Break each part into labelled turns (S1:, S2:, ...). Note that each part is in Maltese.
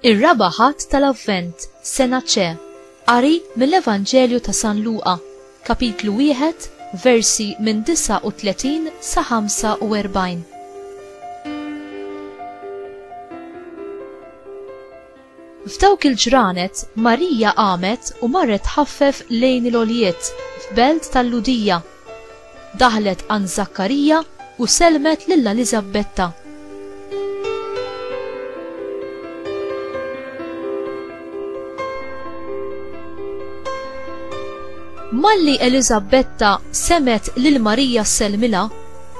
S1: Ir-raba' ħadd tal-Avvent, sena ċe, qari mill-Evanġelju ta' San Luqa, kapitlu wieħed, versi minn 39 sa 45. F'dawk il-ġranet, Marija qamet u marret tħaffef lejn il-għoljiet f'belt tal-Lhudija. Daħlet għand Żakkarija u sellmet lil Eliżabbetta. Malli Eliżabbetta semgħet lil Marija ssellmilha,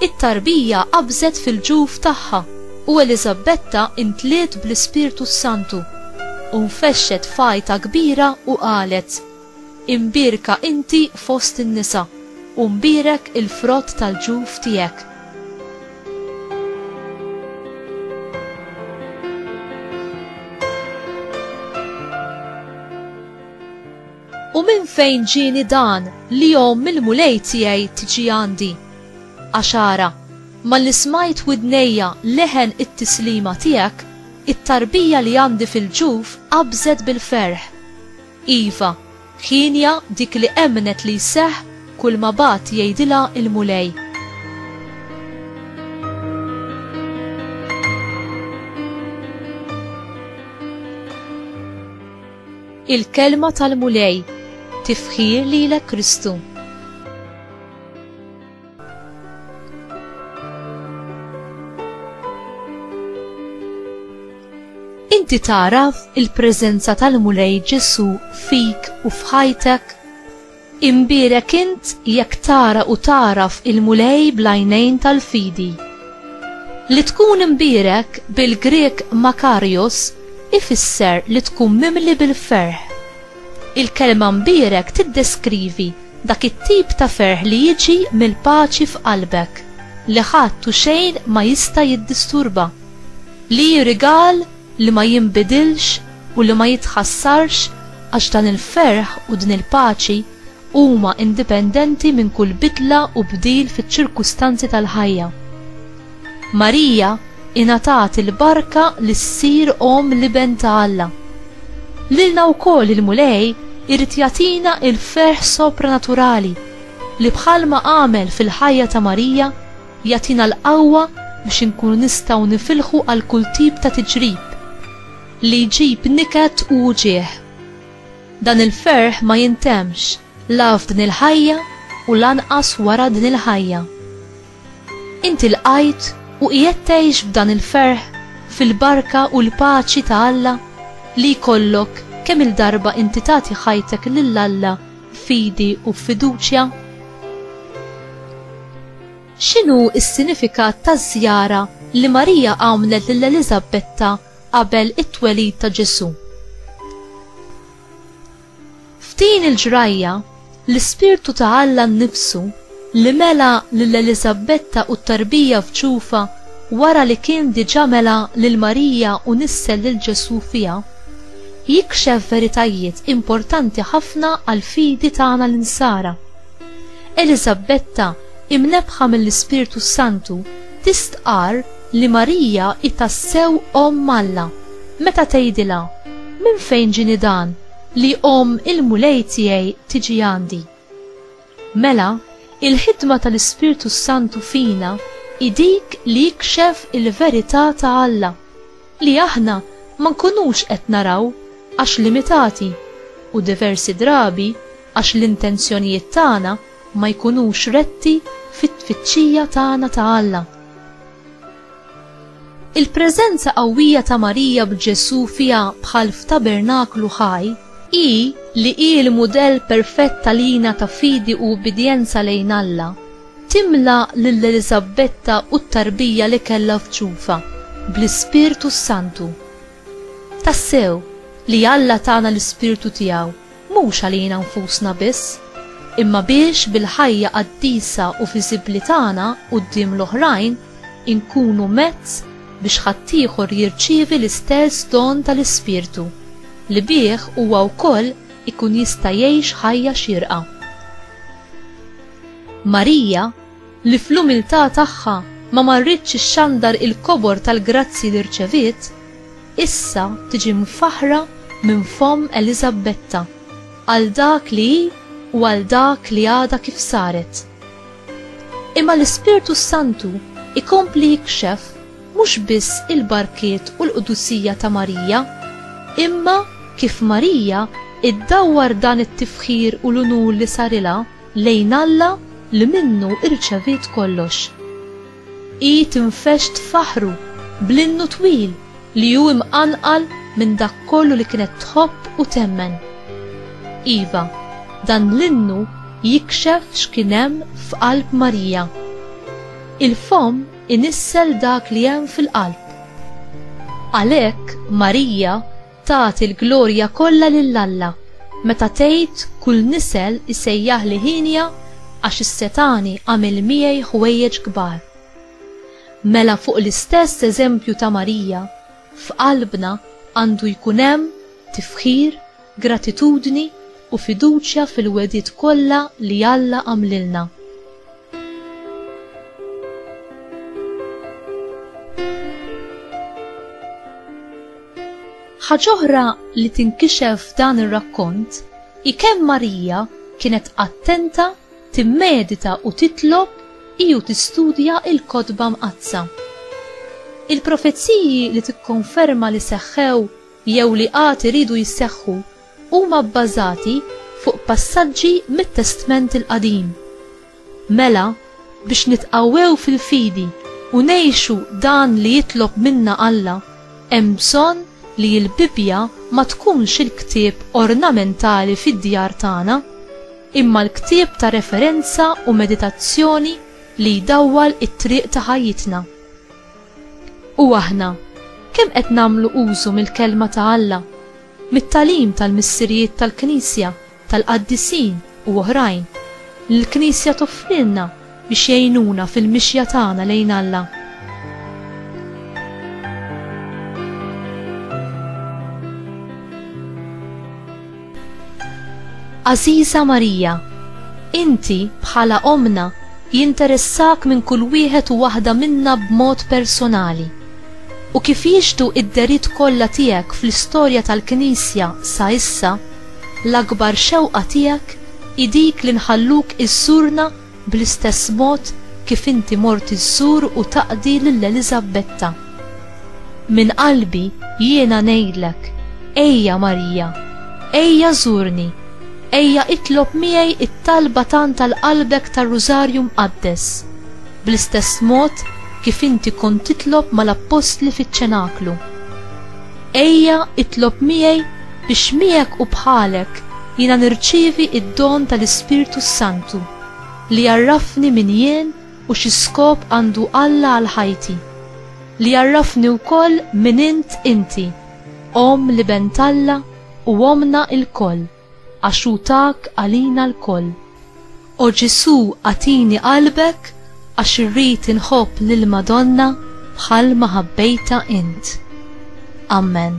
S1: it-tarbija qabżet fil-ġuf tagħha. U Eliżabetta imtliet bl-Ispirtu s-Santu, u nfexxet f'għajta kbira u qalet, Imbierka inti fost in-nisa, u mbierek il-frott tal-ġuf tiegħek. U minn fejn ġieni dan li omm il-Mulej tiegħi tiġi għandi? Għax ara, malli smajt widnejja leħen it-tislima tiegħek, it-tarbija li għandi fil-ġuf qabżet bil-ferħ. Iva, hienja dik li emmnet li jseħħ kulma bagħat jgħidilha l-Mulej. Il-kelma tal-Mulej, tifħir lilek Kristu. Inti taraf il-preżenza tal-Mulej Ġesu fik u f'ħajtek? Imbierek int jekk tara u tagħraf il-Mulej bl-għajnejn tal-fidi. Li tkun imbierek bil-Grieg makarios ifisser li tkun mimli bil-ferħ. Il-kelma mbierek tiddeskrivi dak it-tip ta' ferħ li jiġi mill-paċi f'qalbek, li ħadd u xejn ma jista' jiddisturba, li hi rigal li ma jinbidilx u li ma jitħassarx għax dan il-ferħ u din il-paċi huma indipendenti minn kull bidla u bdil fiċ-ċirkustanzi tal-ħajja. Marija ingħatat il-barka li ssir omm l-Iben ta' Alla. Lilna wkoll il-Mulej irid jagħtina l-ferħ sopranaturali li bħalma għamel fil-ħajja ta' Marija, Jagħtina l-qawwa biex inkunu nistgħu nifilħu għal kull tip ta' tiġrib li jġib niket u wġigħ. Dan il-ferħ ma jintemmx la f'din il-ħajja u lanqas wara din il-ħajja. Inti lqajt u qiegħed tgħix b'dan il-ferħ fil-barka u l-paċi ta' Alla li jkollok kemm-il darba inti tagħti ħajtek lil Alla fidi u f'fiduċja? X'inhu s-sinifikat taż-żjara li Marija għamlet lil Eliżabetta qabel it-twelid ta' Ġesù? F'din il-ġrajja, l-Ispirtu ta' Alla nnifsu li mela lil Eliżabbetta u t-tarbija f'ġufha wara li kien diġà mela lil Marija u nissel lil Ġesù fiha, jikxef veritajiet importanti ħafna għall-fidi tagħna l-Insara. Eliżabbetta, imnebbħa mill-Ispirtu s-Santu, tistqarr li Marija hi tassew Omm Alla meta tgħidilha, Minn fejn ġieni dan li omm il-Mulej tiegħi tiġi għandi? Mela, il-ħidma tal-Ispirtu s-Santu fina hi dik li jikxef il-verità ta' Alla, li aħna ma nkunux qed naraw għax limitati, u diversi drabi għax l-intenzjonijiet tagħna ma jkunux retti fit-tfittxija tagħna ta' Alla. Il-preżenza qawwija ta' Marija b'Ġesù fiha bħal f'tabernaklu ħaj hi li hi l-mudell perfett għalina ta' fidi u ubbidjenza lejn Alla. Timla lil Eliżabbetta u t-tarbija li kellha f'ġufha bl-Ispirtu s-Santu. Tassew, li Alla tana l-Ispirtu tiegħu, mhux għalina nfusna biss, imma biex bil-ħajja qaddisa u viżibbli tagħna quddiem l-oħrajn inkunu mezz biex ħaddieħor jirċievi l-istess don tal-Ispirtu, li bih huwa wkoll ikun jista' jgħix ħajja xierqa. Marija, li fl-umiltà tagħha ma marritx ixxandar il-kobor tal-grazzji li rċeviet, issa tiġi mfaħħra minn fomm Eliżabbetta għal dak li hi u għal dak li għadha kif saret. Imma l-Ispirtu s-Santu jkompli jikxef mhux biss il-barkiet u l-qdusija ta' Marija, imma kif Marija iddawwar dan it-tifħir u l-unur li sarilha, lejn Alla li minnu irċeviet kollox. Hi tinfexx tfaħħru bl-innu twil li hu imqanqal minn dak kollu li kienet tħobb u temmen. Iva, dan l-innu jikxef x'kien hemm f'qalb Marija. Il-fomm inissel dak li hemm fil-qalb. Għalhekk Marija Tagħti l-glorja kollha lil Alla meta tgħid kull nisel isejjaħli hienja għax is-setgħani għamel miegħi ħwejjeġ kbar. Mela fuq l-istess eżempju ta' Marija, f'qalbna għandu jkun hemm tifħir, gratitudni u fiduċja fil-wegħdiet kollha li Alla għamlilna. Ħaġoħra li tinkixef f'dan ir-rakkont hi kemm Marija kienet attenta timmedita u titlob iju tistudja il-kotba mqaddsa. Il-profeziji li tikkonferma li seħħew jew li għad iridu jisseħħu huma bbażati fuq passaġġi mit-Testment il-Qadim. Mela, biex nitqawwew fil-fidi u ngħixu dan li jitlob minna Alla, hemm bżonn li l-Bibbja ma tkunx il-ktieb ornamentali fid-djar tagħna, imma l-ktieb ta' referenza u meditazzjoni li jdawwal it-triq ta' ħajjitna. U aħna, kemm qed nagħmlu użu mill-Kelma ta' Alla mit-tagħlim tal-missirijiet tal-Knisja, tal-qaddisin u oħrajn, li l-Knisja toffrilna biex jgħinuna fil-mixja tagħna lejn Alla. Għażiża Marija, inti, bħala Ommna, jinteressak minn kull wieħed u waħda minna b'mod personali. u kif jixhdu d-dehriet kollha tiegħek fl-istorja tal-Knisja sa issa, l-akbar xewqa tiegħek hi dik li nħalluk iżżurna bl-istess mod kif inti mort iżżur u taqdi lil Eliżabbetta. Minn qalbi jiena ngħidlek, ejja Marija, ejja żurni, ejja itlob miegħi t-talba tant għal qalbek tar-Rużarju Mqaddes. Bl-istess mod kif inti kont titlob mal-appostli fiċ-ċenaklu. Ejja, itlob miegħi biex miegħek u bħalek jiena nirċievi d-don tal-Ispirtu s-Santu li jgħarrafni min jien u xi skop għandu Alla għal ħajti, li jgħarrafni wkoll min int inti, Omm l-Iben t'Alla u Ommna lkoll. Għax hu tak għalina lkoll. O Ġesù agħtini qalbek għax irrid inħobb lill-Madonna bħal ma ħabbejtha int. Amen.